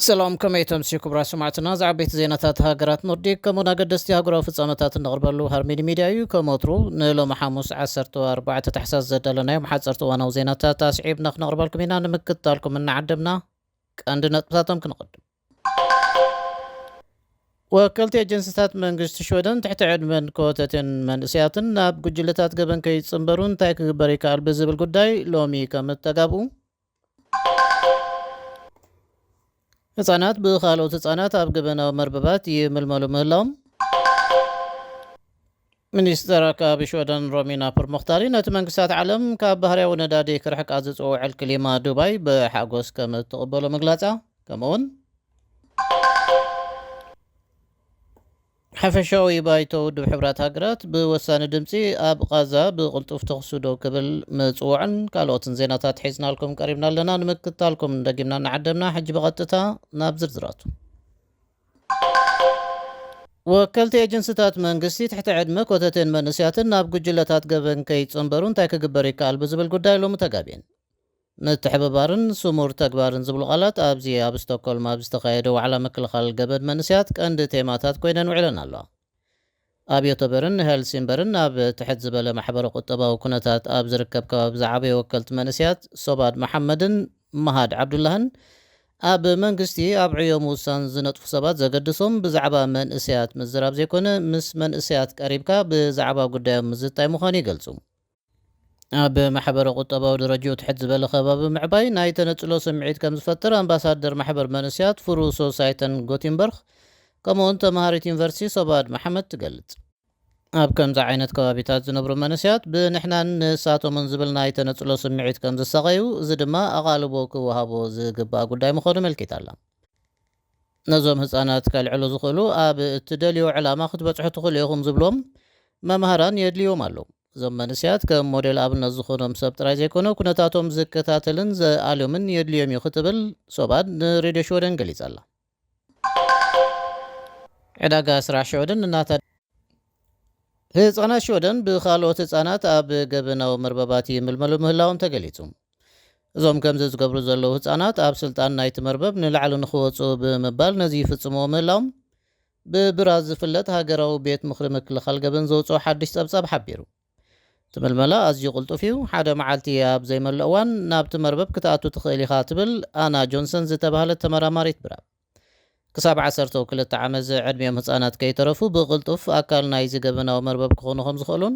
ሰላም ከመይ ተምስዩ ክብራ ሰማዕትና እዚ ዓበይቲ ዜናታት ሃገራት ኖርዲክ ከምኡን ኣገደስቲ ሃገራዊ ፍጻመታት እንቕርበሉ ሃርሚኒ ሚድያ እዩ ከም ወትሩ ንሎሚ ሓሙስ 14 ታሕሳስ ዘዳለናዮም ሓፀርቲ እዋናዊ ዜናታት ኣስዒብና ክነቕርበልኩም ኢና ንምክትታልኩም እናዓደምና ቀንዲ ነጥብታቶም ክንቕድም ወከልቲ ኤጀንሲታት መንግስቲ ሽወደን ትሕቲ ዕድመን ኮተቴን መንእሰያትን ናብ ጉጅለታት ገበን ከይጽንበሩ እንታይ ክግበር ይከኣል ብዝብል ጉዳይ ሎሚ ከም እተጋብኡ ህጻናት ብኻልኦት ህጻናት ኣብ ገበናዊ መርበባት ይምልመሉ ምህላዎም ሚኒስተር ኣከባቢ ሽወደን ሮሚና ፐርሞክታሪ ነቲ መንግስታት ዓለም ካብ ባህርያዊ ነዳዲ ክርሕቃ ዝጽውዕ ዕል ክሊማ ዱባይ ብሓጎስ ከም እትቕበሎ ምግላጻ ከምኡ'ውን ሓፈሻዊ ባይቶ ውድብ ሕብራት ሃገራት ብወሳኒ ድምጺ ኣብ ቓዛ ብቕልጡፍ ተኹሲ ደው ክብል ምጽውዑን ካልኦትን ዜናታት ሒዝናልኩም ቀሪብና ኣለና ንምክታልኩም ደጊምና እናዓደምና ሕጂ ብቐጥታ ናብ ዝርዝራቱ ወከልቲ ኤጀንሲታት መንግስቲ ትሕቲ ዕድመ ኮተቴን መንእሰያትን ናብ ጉጅለታት ገበን ከይጽንበሩ እንታይ ክግበር ይከኣል ብዝብል ጉዳይ ሎሚ ተጋቢየን። ምትሕብባርን ስሙር ተግባርን ዝብሉ ቃላት ኣብዚ ኣብ ስቶኮልም ኣብ ዝተኻየደ ዋዕላ ምክልኻል ገበን መንእሰያት ቀንዲ ቴማታት ኮይነን ውዒለን ኣለዋ። ኣብ ዮተበርን ሄልሲንበርን ኣብ ትሕት ዝበለ ማሕበረ ቁጠባዊ ኩነታት ኣብ ዝርከብ ከባቢ ዝዓበዩ ወከልቲ መንእሰያት ሶባድ መሓመድን መሃድ ዓብዱላህን ኣብ መንግስቲ ኣብ ዕዮ ምውሳን ዝነጥፉ ሰባት ዘገድሶም ብዛዕባ መንእሰያት ምዝራብ ዘይኮነ ምስ መንእሰያት ቀሪብካ ብዛዕባ ጉዳዮም ምዝታይ ምዃኑ ይገልጹ። ኣብ ማሕበረ ቁጠባዊ ደረጅኡ ትሕት ዝበለ ከባቢ ምዕባይ ናይ ተነጽሎ ስምዒት ከም ዝፈጥር ኣምባሳደር ማሕበር መንስያት ፍሩ ሶሳይተን ጎቲንበርክ ከምኡውን ተመሃሪት ዩኒቨርሲቲ ሶባድ መሓመድ ትገልጽ። ኣብ ከምዚ ዓይነት ከባቢታት ዝነብሩ መንስያት ብንሕናን ንሳቶምን ዝብል ናይ ተነጽሎ ስምዒት ከም ዝሳቐዩ እዚ ድማ ኣቓልቦ ክወሃቦ ዝግባእ ጉዳይ ምዃኑ ኣመልኪታ ኣላ። ነዞም ህጻናት ከልዕሉ ዝኽእሉ ኣብ እትደልይዎ ዕላማ ክትበጽሑ ትኽእሉ ኢኹም ዝብሉዎም መማህራን የድልዩዎም ኣለዉ። እዞም መንእሰያት ከም ሞዴል ኣብነት ዝኾኖም ሰብ ጥራይ ዘይኮነ ኩነታቶም ዝከታተልን ዘኣልዮምን የድልዮም'ዩ ክትብል ሶባድ ንሬድዮ ሽወደን ገሊጻ'ላ። ዕዳጋ ስራሕ ሽወደን እናተ ህጻናት ሽወደን ብኻልኦት ህጻናት ኣብ ገበናዊ መርበባት ይምልመሉ ምህላዎም ተገሊጹ። እዞም ከምዚ ዝገብሩ ዘለዉ ህጻናት ኣብ ስልጣን ናይቲ መርበብ ንላዕሊ ንኽወጽኡ ብምባል ነዚ ይፍጽምዎ ምህላዎም ብብራስ ዝፍለጥ ሃገራዊ ቤት ምኽሪ ምክልኻል ገበን ዘውጽኦ ሓድሽ ጸብጻብ ሓቢሩ። እቲ ምልመላ ኣዝዩ ቅልጡፍ እዩ፣ ሓደ መዓልቲ ኣብ ዘይመልእ እዋን ናብቲ መርበብ ክትኣቱ ትኽእል ኢኻ ትብል ኣና ጆንሰን ዝተባህለት ተመራማሪት ብራብ። ክሳብ ዓሰርተው ክልተ ዓመት ዝዕድሚኦም ህጻናት ከይተረፉ ብቕልጡፍ ኣካል ናይዚ ገበናዊ መርበብ ክኾኑ ከም ዝኽእሉን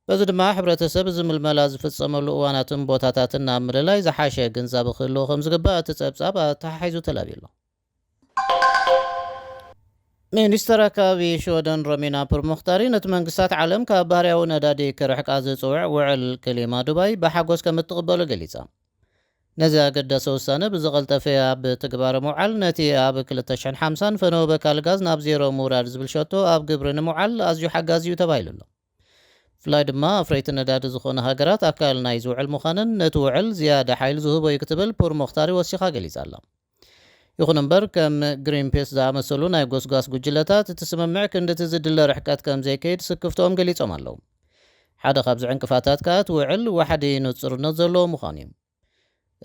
በዚ ድማ ሕብረተሰብ እዚ ምልመላ ዝፍጸመሉ እዋናትን ቦታታትን ኣብ ምልላይ ዝሓሸ ግንዛበ ክህልዎ ከም ዝግባእ እቲ ጸብጻብ ኣተሓሒዙ ተላብዩ'ሎ። ሚኒስተር ኣከባቢ ሽወደን ሮሚና ፑርሞክታሪ ነቲ መንግስታት ዓለም ካብ ባህርያዊ ነዳዲ ክርሕቃ ዝጽውዕ ውዕል ክሊማ ዱባይ ብሓጎስ ከም እትቕበሎ ገሊጻ። ነዚ ኣገዳሲ ውሳነ ብዝቐልጠፈ ኣብ ትግባረ ምውዓል፣ ነቲ ኣብ ክልተ ሽሕን ሓምሳን ፈነወ በካሊ ጋዝ ናብ ዜሮ ምውራድ ዝብል ሸቶ ኣብ ግብሪ ንምውዓል ኣዝዩ ሓጋዚ'ዩ ተባሂሉ'ሎ። ብፍላይ ድማ ኣፍረይቲ ነዳዲ ዝኾና ሃገራት ኣካል ናይዚ ውዕል ምዃነን ነቲ ውዕል ዝያዳ ሓይሊ ዝህቦ'ዩ ክትብል ፑርሞክታሪ ወሲኻ ገሊጻ'ላ። ይኹን እምበር ከም ግሪንፒስ ዝኣመሰሉ ናይ ጎስጓስ ጉጅለታት እቲ ስምምዕ ክንድቲ ዝድለ ርሕቀት ከም ዘይከይድ ስክፍትኦም ገሊጾም ኣለዉ። ሓደ ካብዚ ዕንቅፋታት ከኣ እቲ ውዕል ዋሕዲ ንጹርነት ዘለዎ ምዃኑ እዩ።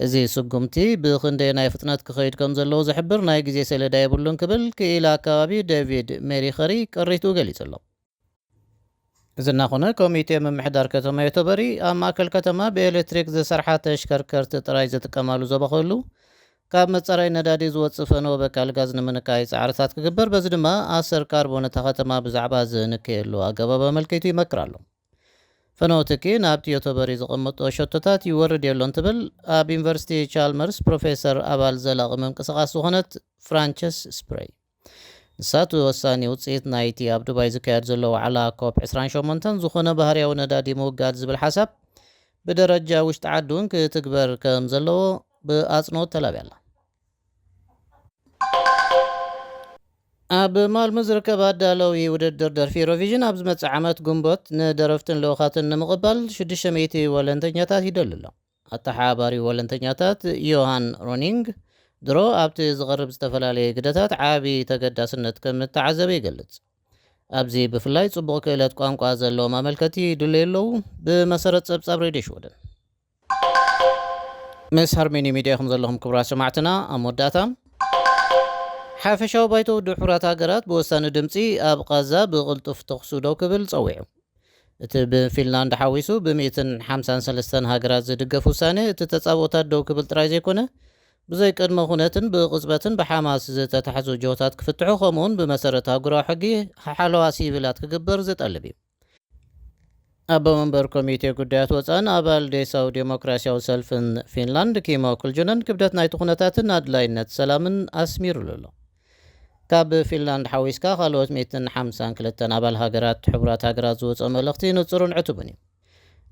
እዚ ስጉምቲ ብኽንደየናይ ፍጥነት ክኸይድ ከም ዘለዎ ዝሕብር ናይ ግዜ ሰሌዳ የብሉን ክብል ክኢላ ኣከባቢ ደቪድ ሜሪኸሪ ቅሪትኡ ገሊጹ ኣሎ። እዚ እናኾነ ኮሚቴ ምምሕዳር ከተማ ዮቶበሪ ኣብ ማእከል ከተማ ብኤሌክትሪክ ዝሰርሓ ተሽከርከርቲ ጥራይ ዝጥቀማሉ ዞባ ክህሉ ካብ መጻረይ ነዳዲ ዝወጽእ ፈነወ በካል ጋዝ ንምንካይ ጻዕርታት ክግበር በዚ ድማ ኣሰር ካርቦን እታ ከተማ ብዛዕባ ዝንከየሉ ኣገባብ ኣመልኪቱ ይመክር ኣሎ። ፈነወ ትኪ ናብቲ ዮቶበሪ ዝቕምጦ ሸቶታት ይወርድ የሎን ትብል ኣብ ዩኒቨርሲቲ ቻልመርስ ፕሮፌሰር ኣባል ዘላቒ ምንቅስቓስ ዝኾነት ፍራንቸስ ስፕረይ። ንሳቱ ወሳኒ ውጽኢት ናይቲ ኣብ ዱባይ ዝካየድ ዘሎ ዋዕላ ኮፕ ዕስራን ሸሞንተን ዝኾነ ባህርያዊ ነዳዲ ምውጋድ ዝብል ሓሳብ ብደረጃ ውሽጢ ዓዲ እውን ክትግበር ከም ዘለዎ ብኣጽንኦት ተላብያ ኣላ። ኣብ ማልሙ ዝርከብ ኣዳለዊ ውድድር ደርፊ ኢሮቪዥን ኣብ ዝመጽእ ዓመት ግንቦት ንደረፍትን ልኡኻትን ንምቕባል ሽዱሽተ ሚእቲ ወለንተኛታት ይደሊ ኣሎ። ኣተሓባባሪ ወለንተኛታት ዮሃን ሮኒንግ፣ ድሮ ኣብቲ ዝቐርብ ዝተፈላለየ ግደታት ዓቢ ተገዳስነት ከም እተዓዘበ ይገልጽ። ኣብዚ ብፍላይ ጽቡቕ ክእለት ቋንቋ ዘለዎም ኣመልከቲ ይድለዩ ኣለዉ፣ ብመሰረት ጸብጻብ ሬድዮ ሽወደን። ምስ ሃርሜኒ ሚድያ ኢኹም ዘለኹም ክቡራት ሰማዕትና። ኣብ መወዳእታ፣ ሓፈሻዊ ባይቶ ውድብ ሕቡራት ሃገራት ብወሳኒ ድምጺ ኣብ ቓዛ ብቕልጡፍ ተዅሲ ደው ክብል ጸዊዑ። እቲ ብፊንላንድ ሓዊሱ ብሚእትን ሓምሳን ሰለስተን ሃገራት ዝድገፍ ውሳኔ፣ እቲ ተጻብኦታት ደው ክብል ጥራይ ዘይኮነ፣ ብዘይ ቅድመ ኩነትን ብቕጽበትን ብሓማስ ዝተታሕዙ ጅሆታት ክፍትሑ ከምኡ'ውን ብመሰረት ኣህጉራዊ ሕጊ ሓለዋ ሲቪላት ክግበር ዝጠልብ እዩ። ኣቦ መንበር ኮሚቴ ጉዳያት ወጻእን ኣባል ዴሳዊ ዴሞክራሲያዊ ሰልፍን ፊንላንድ ኪሞ ኩልጁነን ክብደት ናይቲ ኩነታትን ኣድላይነት ሰላምን ኣስሚሩሉ ኣሎ። ካብ ፊንላንድ ሓዊስካ ካልኦት ሚእትን ሓምሳን ክልተን ኣባል ሃገራት ሕቡራት ሃገራት ዝወጽኦ መልእኽቲ ንጹርን ዕቱብን እዩ።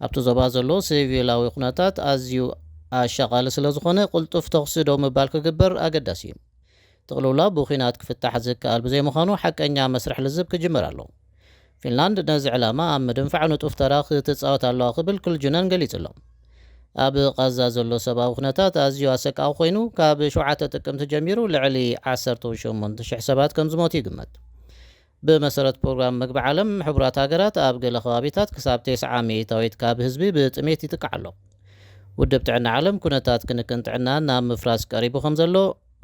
ኣብቲ ዞባ ዘሎ ሲቪላዊ ኩነታት ኣዝዩ ኣሻቓሊ ስለ ዝኾነ ቅልጡፍ ተኹሲ ደው ምባል ክግበር ኣገዳሲ እዩ። እቲ ቅልውላው ብኲናት ክፍታሕ ዝከኣል ብዘይምዃኑ ሓቀኛ መስርሕ ልዝብ ክጅመር ኣለዎ። ፊንላንድ ነዚ ዕላማ ኣብ ምድንፋዕ ንጡፍ ተራ ክትጻወት ኣለዋ ክብል ክልጁነን ገሊጹ'ሎ። ኣብ ቓዛ ዘሎ ሰብኣዊ ኩነታት ኣዝዩ ኣሰቃቒ ኮይኑ፣ ካብ ሸውዓተ ጥቅምቲ ጀሚሩ ልዕሊ ዓሰርተው ሸሞንተ ሽሕ ሰባት ከምዝሞቱ ይግመት። ብመሰረት ፕሮግራም መግቢ ዓለም ሕቡራት ሃገራት፣ ኣብ ገለ ከባቢታት ክሳብ ቴስዓ ሚእታዊት ካብ ህዝቢ ብጥሜት ይጥቃዕ ኣሎ። ውድብ ጥዕና ዓለም ኩነታት ክንክን ጥዕና ናብ ምፍራስ ቀሪቡ ከምዘሎ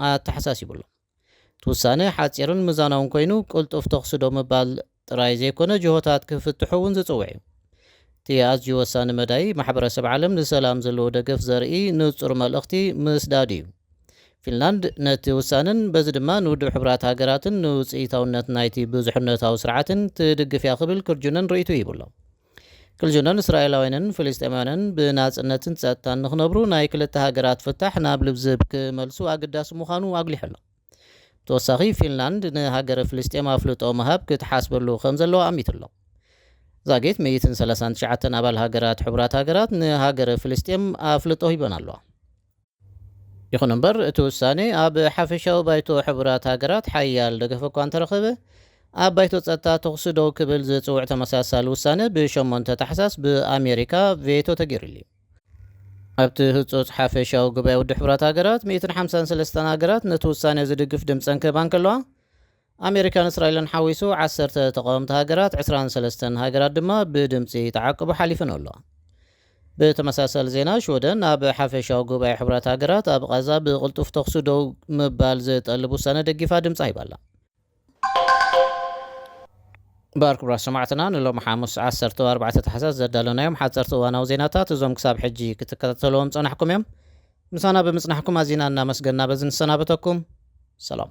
ኣተሓሳሲቡ'ሎ። እቲ ውሳነ ሓጺርን ምዛናውን ኮይኑ ቅልጡፍ ተኹሲ ደው ምባል ጥራይ ዘይኮነ ጅሆታት ክፍትሑ እውን ዝጽውዕ እዩ። እቲ ኣዝዩ ወሳኒ መዳይ ማሕበረሰብ ዓለም ንሰላም ዘለዎ ደገፍ ዘርኢ ንጹር መልእኽቲ ምስዳድ እዩ። ፊንላንድ ነቲ ውሳነን በዚ ድማ ንውድብ ሕቡራት ሃገራትን ንውጽኢታውነት ናይቲ ብዙሕነታዊ ስርዓትን ትድግፍ እያ ክብል ክርጁነን ርእይትኡ ሂቡ ኣሎ። ክልጅኖን እስራኤላውያንን ፍልስጤማውያንን ብናጽነትን ጸጥታን ንኽነብሩ ናይ ክልተ ሃገራት ፍታሕ ናብ ልብዝብ ክመልሱ ኣገዳሲ ምዃኑ ኣጉሊሑ ኣሎ። ብተወሳኺ ፊንላንድ ንሃገረ ፍልስጤም ኣፍልጦ ምሃብ ክትሓስበሉ ከምዘለዋ ኣሚቱ ኣሎ። ዛጊት ሚእትን ሰላሳን ትሽዓተን ኣባል ሃገራት ሕቡራት ሃገራት ንሃገረ ፍልስጤም ኣፍልጦ ሂበን ኣለዋ። ይኹን እምበር እቲ ውሳኔ ኣብ ሓፈሻዊ ባይቶ ሕቡራት ሃገራት ሓያል ደገፍ እኳ እንተረኸበ፣ ኣብ ባይቶ ጸጥታ ተኹሲ ደው ክብል ዝጽውዕ ተመሳሳሊ ውሳነ ብ ሸሞንተ ታሕሳስ ብኣሜሪካ ቬቶ ተገይሩሉ እዩ። ኣብቲ ህጹጽ ሓፈሻዊ ጉባኤ ውድብ ሕቡራት ሃገራት ሚእትን ሓምሳን ሰለስተን ሃገራት ነቲ ውሳኔ ዝድግፍ ድምጸን ክህባ እንከለዋ፣ ኣሜሪካን እስራኤልን ሓዊሱ ዓሰርተ ተቓወምቲ ሃገራት ዕስራን ሰለስተን ሃገራት ድማ ብድምጺ ተዓቅቡ ሓሊፈንኦ ኣለዋ። ብተመሳሳሊ ዜና ሽወደን ናብ ሓፈሻዊ ጉባኤ ሕቡራት ሃገራት ኣብ ቓዛ ብቕልጡፍ ተኹሲ ደው ምባል ዝጠልብ ውሳነ ደጊፋ ድምጻ ሂባ ኣላ። እምበኣር ክቡራት ሰማዕትና ንሎሚ ሓሙስ ዓሰርተው ኣርባዕተ ታሕሳስ ዘዳለናዮም ሓጸርቲ እዋናዊ ዜናታት እዞም ክሳብ ሕጂ ክትከታተልዎም ዝጸናሕኩም እዮም። ምሳና ብምጽናሕኩም ኣዚና እናመስገና በዚ ንሰናበተኩም ሰላም።